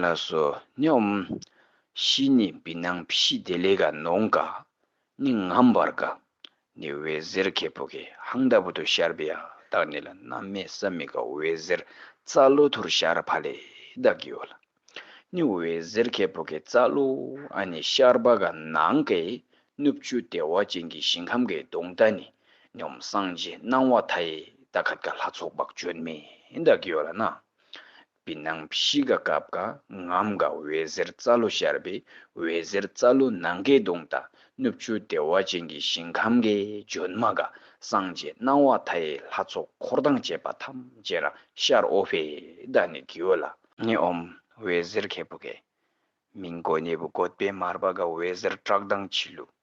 ལ་སོ་སྙོམས། བཞི་ནི་བི་སྣང་བཞི་སྟེ་ལེ་ག་ནོངས་ཀ་ནི་ངམ་བར་ཀ་ནི་འོད་ཟེར་ཁད་པོ་ཀའི་ཧང་ལྟ་བུ་དུ་ཤར་བི་ཡ་དག་ནི་ལ་རྣམ་སྨེ་ས་མི་ཀ་འོད་ཟེར་རྩ་ཀླུ་དྷུར་ཤར་བྷ་ལེ་དག་གི་འོད་ལ་ནི་འོད་ཟེར་ཁད་པོ་ཀའི་རྩ་ཀླུ་ཨ་ནི་ཤར་བྷ་ག་ནང་ཀའི་སྣུབ་བཅུ་བདེ་བ་ཅན་གྱི་ཞིང་ཁམས་ཀའི་གདུང་རྟ་ནི་སྙོམས་སངས་རྒྱས་སྣང་བ་མཐའ་ཡས་ད་ག་དགའ་ལྷ་ཚོགས་དཔག་བརྗོད་མེད་དག་གི་འོད་ལ་ནི་བི་ནང་བཤིས་ཀ་ཀབ་ཀ་ངམ་ཀ་འོད་ཟེར་རྩ་ལོ་ཤར་བའི་འོད་ཟེར་རྩ་ལོ་ནང་ཀའི་གདུང་དང་གནུབས་ཆུ་བདེ་བ་ཅན་གྱི་ཞིང་ཁམས་ཀའི་ལྗོན་མ་ཀ་སངས་རྒྱས་སྣང་བ་མཐའ་ཡས་ལྷ་ཚོགས་འཁོར་དང་བཅས་པ་ཐམས་ཅད་རང་ཤར་ཨོ་བྷེ་ད་ནི་དགེའོ་ལ། ནི་ཨོམ་འོད་ཟེར་ཁལ་བུ་ཀའི། མིང་བཀོད་གནས་བུ་བཀོད་པའི་མར་པ་ཀ་འོད་ཟེར་བཀྲག་མདངས་འཁྱིལ་ལུགས།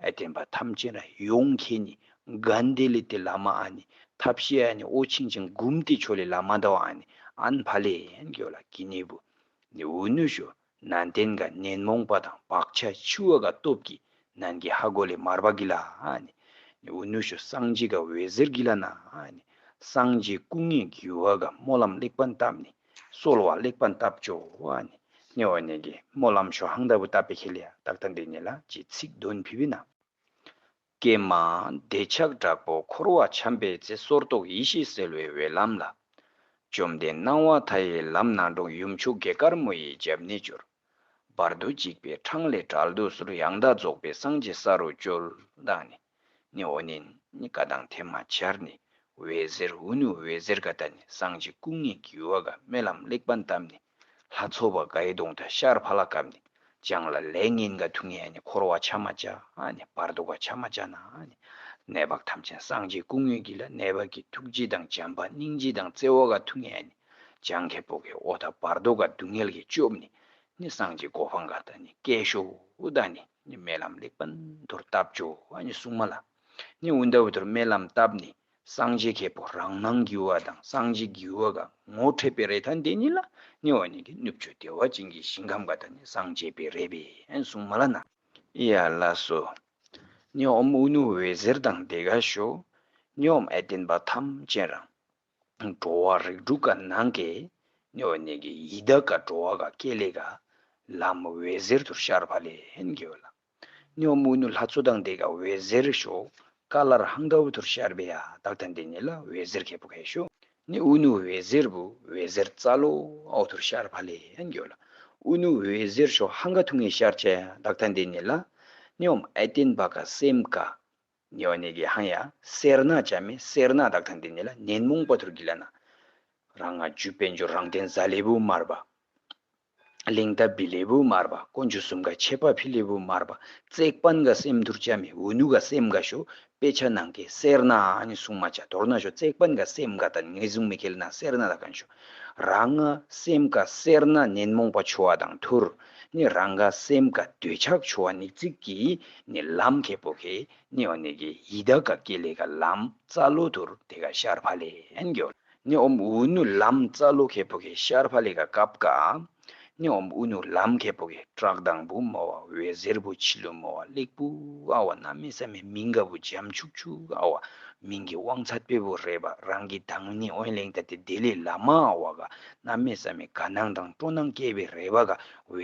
བསྟན་པ་ཐམས་ཅད་ལ་ཡོངས་མཁས་ནི་གནྡྷེ་ལི་ཏི་བླ་མ་ཨ་ནི་ཐབས་ཤེས་ཨ་ནི་ཨོ་ཆིང་ཆིང་གུམ་ཏི་ཆོ་ལི་བླ་མ་ཟླ་བ་ཨ་ནི་ཨན་བྷ་ལེ་ཡན་གོ་ལ་ཀི་ནི་བུ་ནི་འུ་ནུ་ཞོ་ན་ཏན་ག་ནན་མོང་པ་དང་བག་ཆ་ཆི་བ་ག་སྟོབས་ཀི་ནན་གི་ཧ་གོ་ལི་མར་བ་གི་ལ་ཨ་ནི་ནི་འུ་ནུ་ཞོ་སངས་རྒྱས་ག་འོད་ཟེར་གི་ལ་ན་ཨ་ནི་སངས་རྒྱས་སྐུ་ལྔའི་རྒྱུ་བ་ག་སྨོན་ལམ་གླེགས་བམ་བཏབ་ནི་གསོལ་བ་གླེགས་བམ་བཏབ་བྱོ་ཨཱ་ནི་བ་ནི་ཀྱི་མོ་ལམ་ཞོ་ཧང་ལྟ་བུ་བཏབ་པའི་ཁེ་ལས་རྟག་མཐའ་འདི་ནི་ལ་ཅི་ཚིག་དོན་བྷི་བྷི་ན། ཀྱེ་མ་འདོད་ཆགས་དྲག་པོ་འཁོར་བ་འཁྱམས་པའི་ཚེ་སོར་རྟོག་ཡེ་ཤེས་གསལ་བའི་འོད་ལམ་ལ། བཅོམ་ལྡན་སྣང་བ་མཐའ་ཡས་ལམ་སྣ་དྲུག་ཡུམ་ཆུ་དགེ་དཀར་མོ་ཡི་རྒྱབ་གནས་བསྐྱོར། བར་དོ་གཅིག་པའི་འཕྲང་ལས་གྲལ་དུ་ཟུར་ཡང་དག་རྫོགས་པའི་སངས་རྒྱས་ས་རུ་བསྐྱོལ། བདག་ནི། ནི་འོ་ནི་ནི་ཀ་དང་དེ་མ་འཆར་ནི་འོད་ཟེར་འོ་ནི་འོད་ཟེར་ཀ་ད་ནི་སངས་རྒྱས་སྐུ་ལྔའི་རྒྱུ་བ་ག་མེ་ལམ་གླེགས་བམ་བཏབ་ནི་ལྷ་ཚོགས་པ་གའི་གདོང་དང་ཤར་བྷ་ལ་གབ་ནི་སྦྱངས་ལ་ལས་ངན་ག་དུ་ངན་ནི་འཁོར་བ་ཆ་མ་བྱ་ནི་བར་དོ་ག་ཆ་མ་བྱ་ན་ནི་ནད་བག་ཐམས་ཅན་སངས་རྒྱས་སྐུ་ལྔའི་རྒྱུ་ལ་ནད་བག་གི་ཐུགས་རྗེ་དང་བྱམས་པ་སྙིང་རྗེ་དང་བརྩེ་བ་ག་དུ་ངན་ནི་སྦྱངས་ཁེ་སྤོག་གི་འོ་ད་བར་དོ་ག་སྡུག་བསྔལ་གྱི་སྐྱོབ་ནི་ནི་སངས་རྒྱས་གོ་འཕང་ག་ད་ནི་སྐད་ཤོ་བོ་ད་ནི། ནི་རྨི་ལམ་ལེགས་པར་མདོར་བཏབ། སྦྱོར་བ་ནི་སྲུང་མ་ལ་ནི་འུར་འདའ་འུར་དོར་རྨི་ལམ་བཏབ་ནི་སངས་རྒྱས་ཁེ་པོ་རང་སྣང་རྒྱུ་བ་དང་སངས་རྒྱས་རྒྱུ་བ་གང་ངོ་འཕྲད་པའི་རེ་ཐང་དེ་ཉིད་ལ་ནི་བ་ནི་གི་ནུབ་ཆོས་བདེ་བ་ཅན་གྱི་ཞིང་ཁམས་ག་དག་ནི་སངས་རྒྱས་པའི་རེ་བའི་སྲུང་མ་ལ་ན་ཡ་ལ་སོ། ནི་འོམ་ཨུ་ནུ་འོད་ཟེར་དང་བདེ་དགའ་ཞོ། ནི་འོམ་ཨེ་བརྟན་པ་ཐམས་ཅད་རང། འགྲོ་བ་རིགས་དྲུག་ག་ནང་གི་གནོད་བ་གནས་ཀྱི་ཡི་དྭགས་ག་འགྲོ་བ་ག་སྐྱེ་ལས་ག་ལམ་འོད་ཟེར་དུར་ཤར་བྷ་ལས་ཧན་གྱི་བ་ལ་གནོད་བ་མུ་ནུ་ལྷ་གཙོ་དང་དེ་ག་འོད་ཟེར་ཤོ་ཀ་ལ་ར་ཧང་ག་བུ་དུར་ཤར་བྷེ་ཡ་དག་དང་དེ་ནི་ལ་འོད་ཟེར་ག་བུ་ག་ཤོ་ནི་ཨུ་ནུ་འོད་ཟེར་བུ་འོད་ཟེར་རྩ་ལོ་ཨོ་དུར་ཤར་བྷ་ལས་ཧན་གྱི་བ་ལ་ཨུ་ནུ་འོད་ཟེར་ཤོ་ཧང་ག་ཐུགས་ངེས་ཤར་ཆ་ཡ་དག་དང་དེ་ནི་ལ་སྙོམས་ཨེ་བརྟེན་བྷ་ག་སེམས་ག་ཉེ་བ་ནས་ཀྱི་ཧང་ཡ་སེར་ནག་བྱ་མི་སེར་ནག་དག་དང་འདི་ནས་ལ་ནན་མོང་པ་དུར་གྱི་ལ་ན། རང་སྔ་འཇུ་དཔལ་འབྱོར་རང་བསྟན་གཟའ་ལེ་བུ་དམར་བ། ལིང་ཏཱ་བི་ལེ་བུ་དམར་བ་དཀོན་འཇུ་སུམ་ཀ་ཆེ་པ་ཕི་ལེ་བུ་དམར་བ་བརྩེགས་པན་ག་སེམས་དུར་བྱ་མི་འུ་ནུ་ག་སེམས་ག་ཞོ་དཔེ་ཆ་ནང་གི་སེར་ནག་ཨ་ནི་སྲུང་མ་བྱ་དོར་ན་ཞོ་བརྩེགས་པན་ག་སེམས་ག་ད་ནི་ངེས་བཟུང་མི་ཁེལ་ན་སེར་ནག་དག་གང་ཞོ། རང་ང་སེམས་དགའ་སེར་སྣ་ནད་མོངས་པ་འཆོ་བ་དང་ཐུར་ནི་རང་དགའ་སེམས་དགའ་འདོད་ཆགས་འཆོ་བ་ནི་ཚིག་གིས་ནི་ལམ་གེ་པོ་གེ་ནི་འོ་ནི་གེ་ཡིད་དགའ་དགའ་ཀེ་ལེ་ག་ལམ་རྩ་ལོ་ཐུར་དེ་ག་ཤར་བྷ་ལེ་ཨན་གོ་ནི་འོ་འུ་ནུ་ལམ་རྩ་ལོ་གེ་པོ་གེ་ཤར་བྷ་ལེ་ག་ཀབ་ག། ནི་འོམ་བུ་ནུ་ལམ་གད་པོ་གི་བྲག་དང་བུ་མོ་བ་འི་གཟེར་བུ་བྱི་ལུ་མོ་བ་གླེགས་བུ་ཨ་བ་ན་མི་ས་མི་མིང་ག་བུ་འཇམ་ཆུག་ཆུག་ཨ་བ་མིང་གི་དབང་ཚ་དཔེ་བུ་རེད་པ་རང་གི་དང་ནི་དབེན་ལེང་ད་ཏི་དེ་ལི་ལ་མ་ཨ་བ་ག་ན་མི་ས་མི་ག་ནང་དང་སྤྲོ་ནང་སྐྱེས་བི་རེད་པ་ག་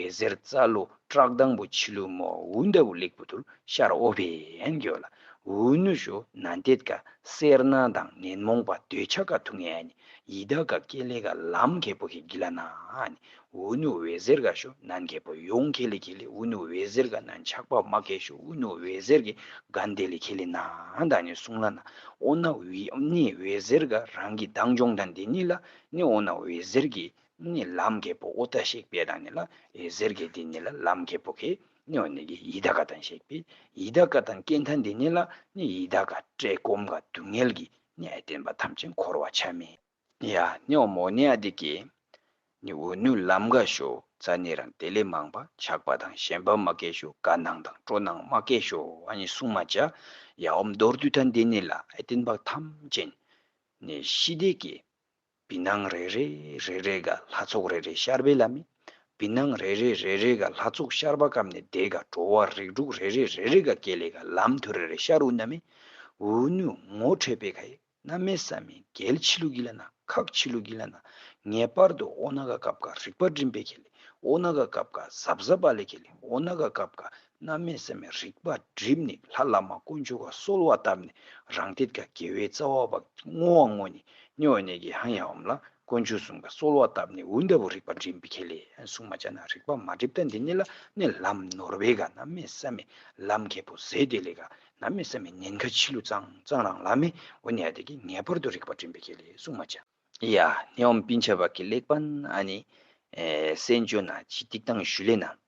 འི་གཟེར་རྩ་ལུ་བྲག་དང་བུ་བྱི་ལུ་མོ་བ་འུ་འདའ་བུ་གླེགས་བུ་དུར་ཤ་ར་ཨོ་བེན་གྱོ་ལ་འུ་ནུ་ཞོ་ན་འདེད་ག་སེར་སྣ་དང་ནན་མོང་པ་འདོད་ཆ་ག་ཐུ་ངན་ཨ་ནི་ཡི་དྭགས་ག་ཀེ་ལེ་ག་ལམ་གེ་པོ་ཧེ་གི་ལ་ནཱ་ཨུ་ནུ་བྷེ་ཟེར་ག་ཤོ་ནཱན་གེ་པོ་ཡོང་ཁེ་ལེ་ཁེ་ལེ་ཨུ་ནུ་བྷེ་ཟེར་ག་ནཱན་ཆགས་པ་མ་ཀེ་ཤོ་ཨུ་ནུ་བྷེ་ཟེར་གི་ག་འདེ་ལེ་ཁེ་ལེ་ནཱན་དང་ནི་སུང་ལ་ནཱ་ཨོ་ནཱ་ཨུནི་བྷེ་ཟེར་ག་རང་གི་དང་འབྱུང་དང་འདི་ནི་ལ་ནི་ཨོ་ནཱ་བྷེ་ཟེར་གི་ནི་ལམ་གེ་པོ་ཨོ་ཏཱ་ཤེག་པེ་དང་ནི་ལ་ཨེ་ཟེར་གི་འདི་ནི་ལ་ལམ་གེ་པོ་ཁེ་ནི་ཨོ་ནི་གི་ཡི་དྭགས་ག་དང་ཤེག་པེ་ཡི་དྭགས་ག་དང་ཀེ་མཐའ་འདི་ནི་ལ་ནི་ཡི་དྭགས་ག་ཀྲེ་ཀོམ་ག་དུ་ངལ་གི་ནས་བསྟན་པ་ཐམས་ཅད་འཁོར་བར་ཆགས་མིན། ནི་ཡ་ནི་འོ་མོ་ནི་ཨ་དེ་ཀས། ནི་འོ་ནུ་ལམ་འགའ་ཞོ་ཙ་ནི་རང་དེ་ལས་མང་པ་ཆགས་པ་དང་གཞན་པ་མ་ཀས་ཞོ་ག་ནང་དང་སྤྲོ་ནང་མ་ཀས་ཞོ་བ་ནི་གསུང་མ་བྱ། ཡ་འོ་མདོར་བསྡུས་ཐ་འདི་ནི་ལ་ཨེ་བསྟན་པ་ཐམས་ཅད། ནི་ཤི་དེ་ཀས། བི་སྣང་རེ་རེ་རེ་རེ་ག་ལྷ་ཚོགས་རེ་རེ་ཤར་བའི་ལམ་མེད། བི་སྣང་རེ་རེ་རེ་རེ་ག་ལྷ་ཚོགས་ཤར་བ་སྐམ་ནས་འདས་ག་འགྲོ་བ་རིགས་དྲུག་རེ་རེ་རེ་རེ་ག་སྐྱེ་ལས་ག་ལམ་མཐུ་རེ་རེ་ཤར་འུ་ན་མེད། འུ་ནུ་ངོ་འཕྲད་པའི་ག་ཡེ་ན་མེད་ས་མི་འགལ་ཕྱི་ལུགས་ཀྱི་ལ་ན་ཁག་ཕྱི་ལུགས་ཀྱི་ལ་ན་ངེས་པར་དུ་འོ་ན་ག་སྐབས་ག་རིག་པ་སྒྲིམ་པའི་གལ་ཨོ་ན་ག་སྐབས་ག་ཟབ་ཟབ་པ་ལས་གལ་འོ་ན་ག་སྐབས་ག་རྣམ་སྨིན་སེམས་མེད་རིག་པ་བསྒྲིབས་ནས་ལྷ་བླ་མ་དཀོན་མཆོག་ག་གསོལ་བ་བཏབ་ནས་རང་སྟེ་དགའ་དགེ་བའི་རྩ་བ་བ་བསྔོ་བ་བསྔོ་ནས་སྨྱོ་བ་ནད་ཀྱི་ཧང་ཡ་བམ་ལ་དཀོན་མཆོག་གསུམ་ག་གསོལ་བ་བཏབ་ནས་འུར་འདར་བུ་རིག་པ་འགྲིམ་པའི་ཁེ་ལས་གསུངས་མ་བྱ་ན་རིག་པ་མ་བསྒྲིབས་ད་འདི་ནི་ལ་ནི་ལམ་ནོར་བས་ག་རྣམ་སྨིན་སེམས་མེད་ལམ་མཁས་པོ་ཟད་དེ་ལས་ག་རྣམ་སྨིན་སེམས་མེད་ཉེན་ཁ་འཆི་ལུས་གཙང་གཙང་རང་ལ་མེད་འུར་ནད་དེ་གིས་ངེས་པར་དུ་རིག་པ་འགྲིམ་པའི་ཁེ་ལས་གསུངས་མ་བྱ། ཡ། སྣེའུ་འབིན་ཆ་བག་གི་གླེགས་བམ་ཨ་ནི། གསན་བཅོས་ན་ཅི་སྟེགས་དང་ཞུ་ལེ་ན་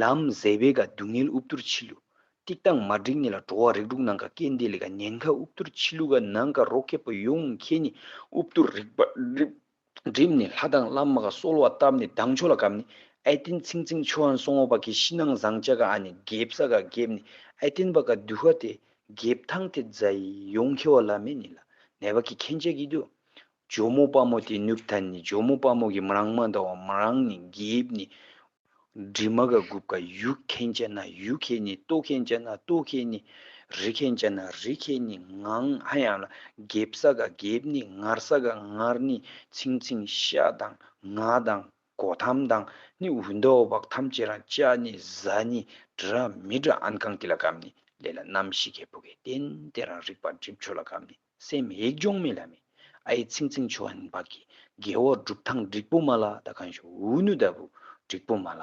ལམ་གཟས་པའི་ག་སྡུག་བསྔལ་དབུབ་དུར་འཆི་བསླུ། ཏིག་ཏང་མ་འགྲིག་ནི་ལ་འགྲོ་བ་རིགས་དྲུག་ནང་ག་སྐྱེ་འདས་ལས་ག་ཉེན་ཁ་དབུབ་དུར་འཆི་བསླུ་ག་ནང་ག་རོ་ཁད་པོ་ཡོངས་ཁྱེད་ནི་དབུབ་དུར་རིགས་པ་རིགས། སྒྲིབ་ནི་ལྷ་དང་བླ་མ་ག་གསོལ་བ་བཏབ་ནི་བདག་མཆོག་ལ་གབ་ནི་ཨེ་བསྟེན་ཚིང་ཚིང་ཆོས་ཨན་སོང་བ་པ་གི་ཤི་ནང་བཟང་བཅའ་ག་ཨ་ནི་འགེབ་ས་ག་འགེབ་ནི་ཨེ་བསྟེན་པ་ག་འདུལ་བ་དེ་འགེབ་ཐང་དེ་རྫ་ཡི་ཡོངས་ཁྱེ་བ་ལ་མེ་ནི་ལ་ནས་པ་གི་ཁེན་བཅས་ཀི་དུ་ཇོ་མོ་དཔའ་མོ་དེ་ནུབ་ཐ་ནི་ཇོ་མོ་དཔའ་མོ་གི་མ་རང་མ་འདའ་བ་མ་རང་ནི་འགེབས་ནི། འདྲི་མ་ག་དགུབ་ག་ཡུག་མཁན་ཅ་ན་ཡུག་ཁེ་ནི་ལྟོ་མཁན་ཅ་ན་ལྟོ་ཁེ་ནི། རི་མཁན་ཅ་ན་རི་མཁེ་ནི་ངང་ཧ་ཡང་ལ་འགེབ་ས་ག་འགེབ་ནི་ངར་ས་ག་ངར་ནི་ཚིང་ཚིང་ཤ་དང་ང་དང་གོ་ཐམ་དང་ནི་འུ་འདའ་བ་བག་ཐམ་ཅེ་རང་ཅ་ནི་བཟའ་ནི་དྲི་ར་མི་དྲ་ཨན་གང་དེ་ལ་གམ་ནི་ལས་ལ་རྣམ་ཤེས་ཁེ་བུ་གེ་བསྟན་དེ་རང་རིག་པ་འགྲིབ་ཆོ་ལ་གམ་ནི། སེམས་ཡིད་འབྱུང་མེད་ལ་མེ་ཨའི་ཚིག་འཛིན་ཆོ་འཕགས་ཀྱི་དགེ་འོག་སྒྲུབ་ཐང་འགྲིག་པོ་མ་ལ་ད་གང་ཞུ་འུ་ནུ་ལྟ་བུ་འགྲིག་པོ་མ་ལ།